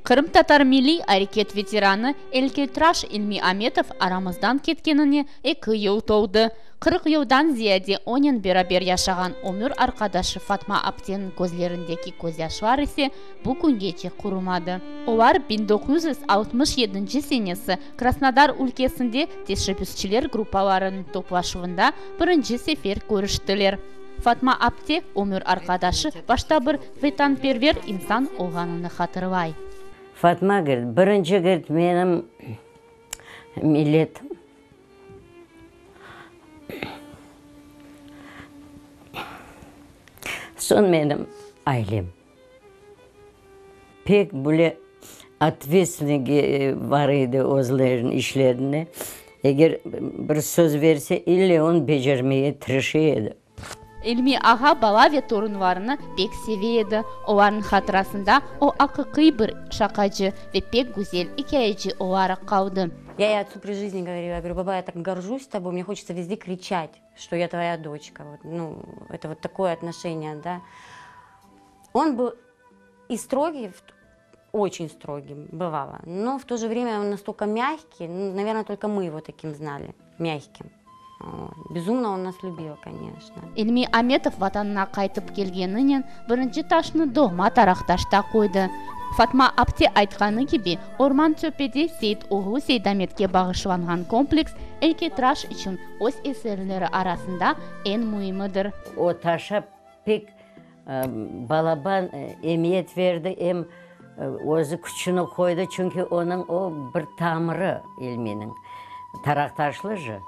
Qırımtatar milliy areket veteranı elkeytraş İlmi Ametov aramızdan ketkenine eki yıl toldı. Qırq yıldan ziyade onen beraber yaşağan ömür arqadaşı Fatma apteniñ közlerindeki közyaşlar ise bu küngece qurumadı. Olar biñ doquz yüz altmış yedinci senesi Krasnodar ülkesinde teşebbüsçiler gruppalarınıñ toplaşuvında birinci sefer körüştiler. Fatma apte ömür arqadaşı başta bir Vetanperver insan olğanını hatırlay. Fatmagül, birinci kirt menim milletim. Soñ menim ailem. Pek böyle otvetstvenniy bar edi özleriniñ işlerinde. Eger bir söz berse, elle onı becermege tirişe edi. İlmi ağa bala ve torunlarını pek seve edi. Olarnıñ hatırasında o aqiqiy bir şaqacı ve pek güzel ikâyeci olaraq qaldı. Ya ya otsü pri jizni govoril, ya goru, baba, ya tak gorjuş toboy, mne hoçetsa vezde kriçat, şto ya tvoya doçka, vot, nu, eto vot takoye otnoşeniya, da. On bıl i strogif. Oçün strogiy, bıvalo, no v to je vremya on nastolko mâgkiy, naverna, tolko mı yivo takim znali, mâgkiy. Bezumno on nas lübilo, koneçno. İlmi Ametov Vatanına qaytıp kelgeninen birinci taşnı doğma Tarahtaşta qoydı. Fatma apte aytqanı kibi, Orman Çöpede Seit oğlu Seidametke bağışlanğan kompleks eykeytraş içün öz eserleri arasında eñ müimidir. O taşa pek Balaban emiyet verdi, em özü küçüni qoydı, çünki onıñ o bir tamırı ilminiñ, Taraqtaşlı jı,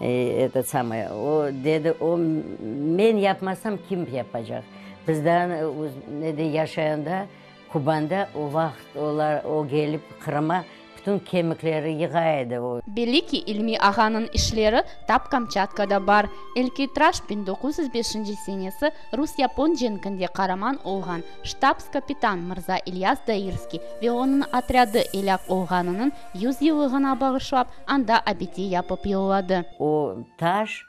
eto samaya, o dedi, o men yapmasam kim yapacaq? Bizden, ne dey, yaşayanda Kubanda o vaqıt olar, o kelip Qırıma bütün kemikleri yığa edi. O. Belli ki, İlmi ağanıñ işleri tap Kamçatka da bar. Elki traş biñ doquz yüz beşinci senesi rus-yapon cenkinde qaraman olğan ştabs-kapitan mırza İlyas Dairskiy ve onıñ otrâdı elâk olğanınıñ yüz yıllığına bağışlap anda abide yapıp yolladı. O taş,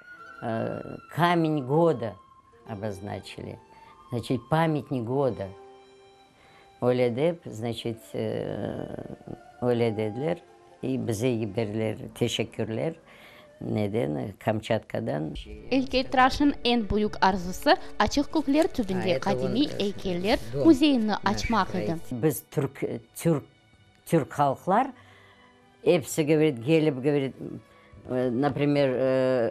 Kamень goda. Oboznoçili, znaçit, pametnik goda. Öyle dep, znaçit, öyle dediler. İ bize yiberdiler, teşekkürler, neden, Kamçatkadan. Eykeytraşnıñ eñ büyük arzusı, Açıq kökler tübünde qadimiy eykeller müzeyini açmaq edi. Biz türk, türk Türk halqlar episi gövret, gelip gövret, naprimer,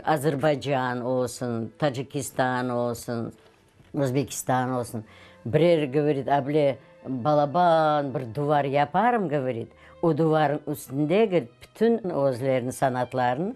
Azerbaycan olsun, Tacikistan olsun, Özbekistan olsun, birer gövret able balaban bir duvar yaparım gövret, o duvarnıñ üstünde gövret, bütün özleriniñ sanatlarını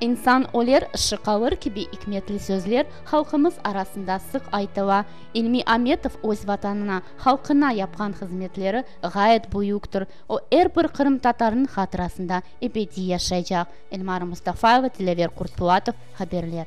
İnsan öler, ışı qalır kibi ikmetli sözler halqımız arasında sıq aytıla. İlmi Ametov öz Vatanına, halqına yapqan hızmetleri ğayet büyüktir. O, er bir qırımtatarnıñ hatırasında ebediy yaşaycaq. Elmara Mustafayeva, Dilâver Qurtpulatov, Haberler.